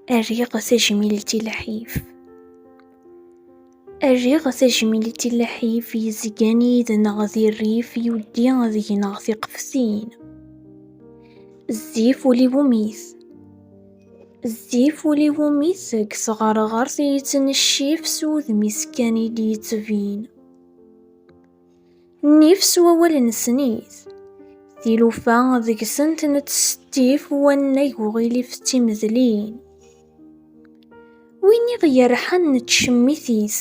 Rriɣ tajmilt i lḥif. Rriɣ tajmilt i lḥif yezgan yid-neɣ di rrif yuddi ad gneɣ tiqefsin. Zzif uli wumit. Zzif uli wumit deg tɣerɣert yettneccif s wudem-is kan i d-yettbin. Nnif s wawal n snit. Tilufa deg-sent nettsettif wannag uɣilif d timedlin. Win i ɣ-yerḥan nettcemmit-it,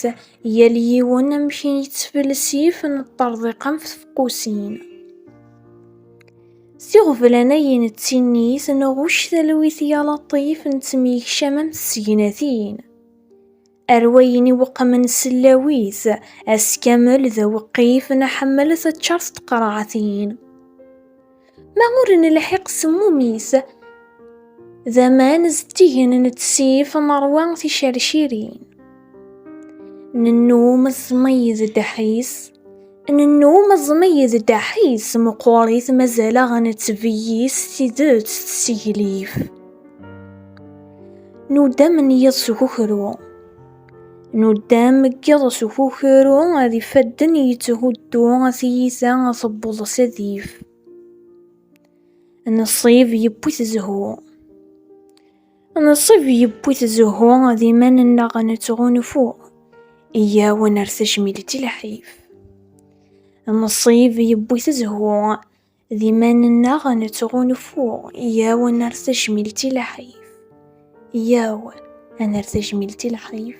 yal yiwen amek i yettfelsif neṭṭerḍiq am tfeqqusin. S iɣeblan ay nettinit nɣucc talwit yal aṭṭif nettemyekcam am tsegnatin. Ar wayen iweqqmen sellaw-is, ass kamel d aweqqif nḥemmel teččar s tqerɛatin. Ma ur nelḥiq semmum-is, d aman zeddigen nettsif neṛwa ticercirin. Nennum ẓmeyyed ddeḥ-is, Nennum aẓmi d ddaḥis, meqqerit mazal-aɣ nettbeyyiz s tidet d tseglif. Nuddam n yiḍ s ukukru. Nuddam n yiḍ s ukukru ad ifadden yetthuddu tiyita tewweḍ s adif. Nnṣib yewwi-t zzhu. Nsib yewwi-t zzhu d iman-nneɣ nettɣunfu, iyyaw ad nerr tajmilt i lḥif. Nsib yewwi-t zzhu d iman-nneɣ nettɣunfu, iyyaw ad nerr tajmilt i lḥif. Iyyaw ad nerr tajmilt i lḥif.